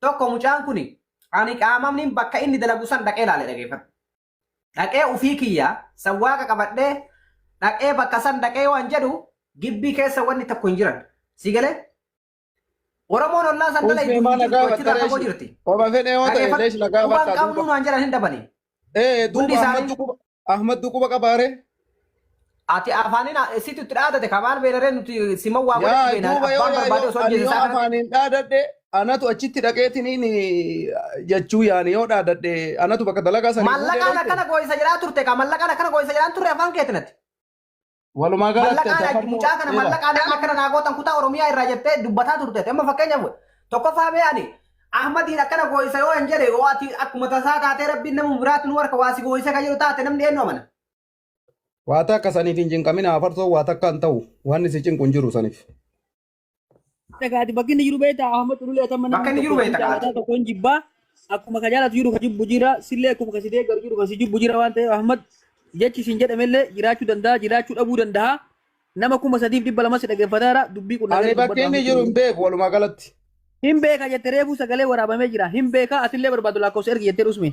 Tokko mucaan kuni ani qaamamniin bakka inni dalagu san dhaqee laale dhageeffadhu. Dhaqee ufii kiyya san waaqa qabadhee dhaqee bakka san dhaqee waan jedhu gibbii keessa wanni tokko hin jiran. Si galee? Oromoon ollaa san dhala Uffee iddoo maa hin jirtu nagaa achirraa fagoo jirti. Oma fedhee yoo ta'e Dhageeffadhu. leesh nagaa Quban bakka qabnuu duuba. naan jedhan hin dhabanii. Ee Hundi duuba isaanii- ammattu quba. Ahmaddu quba qabaa ree? Ati afaanin situ itti dhaadate ka maal beena ree nuti siman waa godhachuu Yaa beena duuba yoo abbaan barbaade yaayoo osoo ani ajjeese yoo isaa kanatti afaaniin dhaadadhe anatu achitti dhaqeetiniin jechuu yaani yoo dhaadadhe anatu bakka dalagaa sanii fuudhee mallaqaan dhaqe. akkana gooyisa jedhaa turte ka mallaqaan akkana gooyisa jedhaan turre afaan keetinatti. Walumaa galatti Mallaqaa adda laatti mucaa kana faaruu mallaqaa nama akkana naa gootan kutaa Oromiyaa irraa jettee dubbataa turte. Amma fakkeenyaaf tokkoffaa mee ani Ahmadiin akkana gooyisa yoo hin jedhe yoo ati akkuma tasaa taatee rabbiin nama biraatti nu harka waa si gooyisa kan jedhu taate namni eenyu amana. Waa takka saniif hin cinqamin hafarsoo waa takka hin ta'u waan si cinqu hin jiru saniif. Dhagaati bakki inni jiru beektaa Ahmad Xululee tamma Bakka namni inni jiru tokko beekta kan kaati. jaalataa tokkoon jibbaa akkuma ka jaalatu jiru ka jibbu jira sillee akkuma ka si deeggaru jiru ka si jibbu jira waan ta'eef Ahmad jechi isin jedhamellee jiraachuu danda'a jiraachuu dhabuu danda'a nama kuma sadiif dhibba lama si dhaggeeffataa jira dubbii kun Ani dhaga'ee bakka dubbadhu inni Ahmad jiru hin Xululee. beeku walumaa galatti. Hin beeka jette reefuu sagalee waraabamee jira hin beeka atillee barbaadu lakkoofsa ergi jettee dhusme.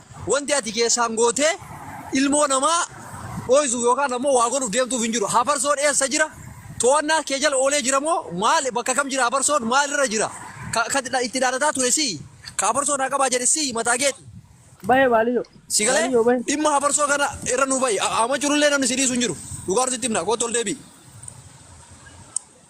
Wanti ati keessaan gootee ilmoo namaa dhooysuuf yookaan ammoo waa godhuuf deemtuuf hin jiru. Hafarsoon eessa jira? To'annaa kee jala oolee jira moo maal bakka kam jira hafarsoon maalirra jira? Ka, ka itti dhaadataa ture sii? Ka hafarsoon haa qabaa jedhe sii mataa keeti? Bahe baaliyo. Si galee Baaliyo bahe. dhimma hafarsoo kana irra nu ba'i. Amma jirullee namni si dhiisu hin jiru. Dhugaa nuti itti himna. Kootu ol deebi'i.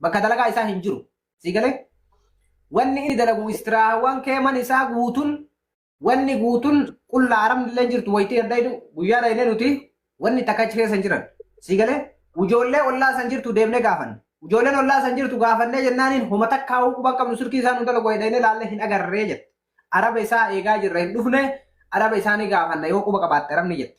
Bakka dalagaa isaa hin jiru. Sii galee? Wanni inni dalagu istiraahawwan kee man isaa guutun wanni guutun qullaa arabni illee hin jirtu wayitii adda jedhu guyyaa dhaynee nuti wanni takka achi keessa hin jiran. Sii galee? Ijoollee ollaa san jirtu deemnee gaafanne. Ijoolleen ollaa san jirtu gaafannee jennaaniin homa takkaa hoo quban qabnu sirkii isaan nu dalagu wayi dhaynee laallee hin agarree jette. Araba isaa eegaa jirra hin dhufne araba isaanii gaafanna yoo quba qabaatte arabni jette.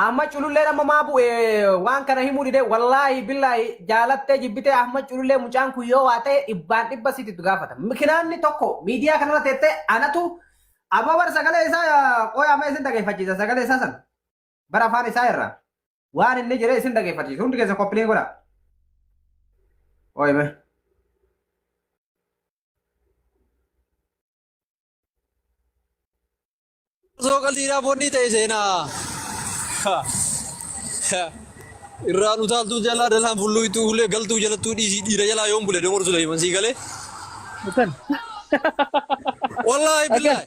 Ahmad cululleen amma maa bu'e waan kana himuu dide wallaahi billaahi jaalattee jibbitee Ahmad culullee mucaan kun yoo waa ta'e dhibbaan dhibba sitti itti gaafata. Mikinaanni tokko miidiyaa kanarra teettee anatu amma bar sagalee isaa qoya amma isin dhageeffachiisa sagalee isaa san bara afaan isaa irra waan inni jedhee isin dhageeffachiisa hundi keessa koppiliin godha. Ooyime. Osoo qaldiidhaa foonnii ta'e seenaa. Irraan utaaltuu jalaa dalaan fulluu itti ulee galtuu jalattuu dhiisii dhiira jalaa yoon bule domor Suleeman sii galee. Akkan. Wallaahi Akkan. billaahi.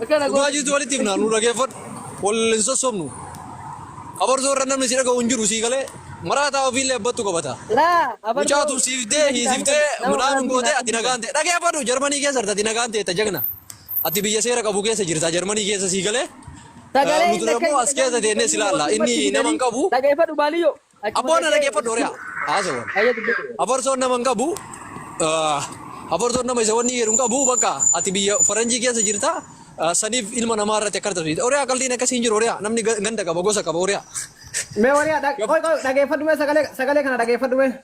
Akkana Dhugaa gooti. jirtu walitti himnaa nu dhageeffadhu. Wal hin sossobnu. Abarsoo irra namni si dhaga'u hin jiru sii galee. Maraataa ofiillee abbattu qabata. Laa. abartoo. Mucaatu siif dee hiisiftee Nama midhaan hin gootee ati nagaan ta'e. Dhageeffadhu Jarmanii keessa jirta ati nagaan ta'e jagna. Ati biyya seera qabu keessa jirta Jarmanii keessa sii galee Sagalee nuti illee immoo as keessa teennee si laalla inni nama hin qabu. Dhageeffadhu baaliyyoo. Abboo na dhageeffadhu hori'a haasawa. Afarsoon nama hin qabu afarsoon nama isa wanni jedhu hin qabu bakka ati biyya faranjii keessa jirta saniif ilma namaa irratti akka taphatu hori'a qaldiin akkasii hin jiru hori'a namni ganda qaba gosa qaba hori'a. Mee hori'a dhageeffadhu mee sagalee kana dhageeffadhu mee.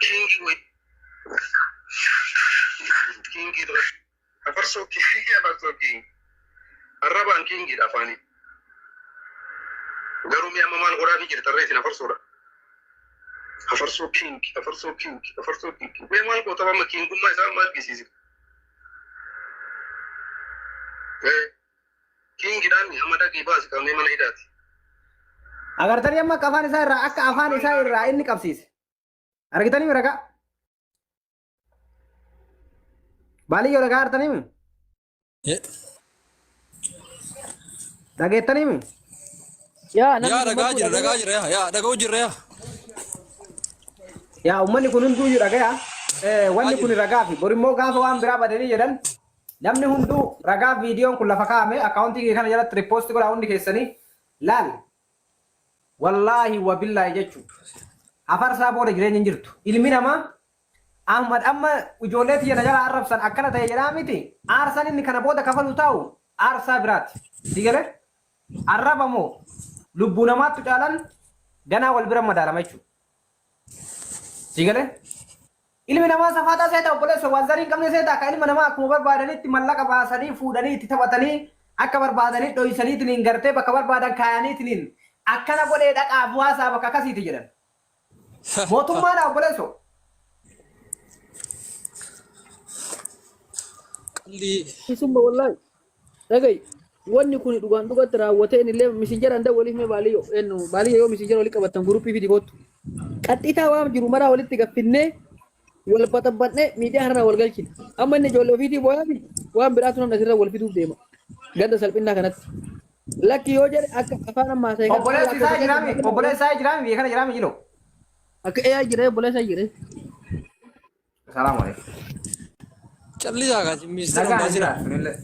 Kingi way. Kingi dura. Afarsoo kingi afarsoo kingi. Arrabaan kingi dha afaani. Garuu mi amma maal godhaa fi jirtan ree isin afarsoodha. Afarsoo kingi afarsoo kingi afarsoo kingi. Mee maal goota amma kingummaa isaa amma argisiisi. Eh. King dhaan amma dhaqii baasi qabnee mana hidhaati. Agartanii amma akka afaan isaa irraa akka afaan isaa irraa inni qabsiise. Argitanii ragaa? Baaliyyoo ragaa artanii mi? Dhageettanii mi? Yaa namni Yaa kun ragaa maquu jira dhaga'ee- ragaa jira yaa yaa dhaga'u jirra yaa. Yaa uummanni kun hunduu iyyuu dhagaya. Eh, Wanni kun ragaa fi borimmoo gaafa waan biraa badanii jedhan Namni hunduu ragaa viidiyoon kun lafa kaa'ame account kiyya kana jalatti repost godhaa hundi keessanii laal wallaahi wabillaahi jechu hafarsaa booda jireenyi hin jirtu ilmi namaa Ahmad amma ijoollee tiyya na jalaa arrabsan akkana ta'e jedhaa miti aarsaan inni kana booda kafalu taa'u aarsaa biraati si gale arraba moo lubbuu namaattu caalan ganaa wal bira madaalama jechuudha. Sii galee? Ilmi namaa safaaxaa seeta obboleessa waan zarii hin qabne seeta akka ilma namaa akkuma barbaadanitti mallaqa baasanii fuudhanii itti taphatanii akka barbaadanii dhoysaniitiniin gartee bakka barbaadan kaayaniitiniin akkana godhee dhaqaa bu'aasaa bakka akkasiiti jedhan. Mootummaadha obboleessoo. Qalli Isumma wallahi. Dhagayi wanni kuni dhugaan dhugatti raawwatee inillee misinjara handa waliif mee baaliyo ennu baaliyo yoo misinjara wali qabattan guruppii fidi koottu. Qaxxiitaa waan jiru maraa walitti gaffinnee wal baxabbannee miidiyaa kanarraa wal galchina. Amma inni ijoollee ofiitii booyaa miti waan biraatu namni asirra wal fiduuf deema. Ganda salphinnaa kanatti. Lakki yoo jedhe akka afaan ammaa ta'e kana Obboleessi isaa jiraami. Obboleessi isaa jiraami. Biyya kana jiraami jiloo. Akka AI jira obboleessa jira. Salaamu alaikum. Callisaa kaa ministeera Nagaan ammaa jira. jiraatu nillee.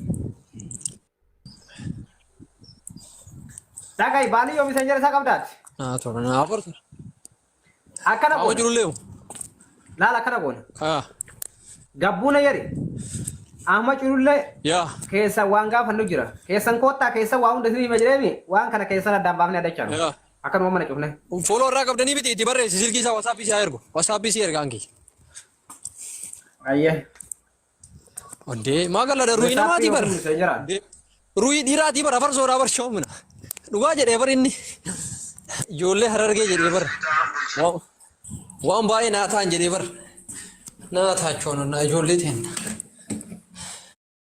Dhaga'i baalii yoo miseenya isaa qabdaati. Naa tola naa afartu. Akkana Haa goona. jiru leemu. Laala akkana goona. Haa Gabbuuna yeri. Amma culullee yaa keessa waan gaafannu jira. Keessan koottaa keessa waa hunda isin hima jireemi waan kana keessan addaan baafnee addachaa nu. yaa Akkanuma mana cufne. Unfollow irraa qabdanii miti itti barreessi silkii isaa WhatsApp isaa ergu. WhatsApp isii ergaan kiyya. Ayyee. Oddee maa galladha ruhii namaatii bara. Ruhii dhiiraatii bara farsoodhaa bar shoomina. Dhugaa jedhee bar inni. Ijoollee harargee jedhee bar. Wa- Waan baay'ee naa ta'an jedhee bar. Naa taachoon naa ijoollee ta'an.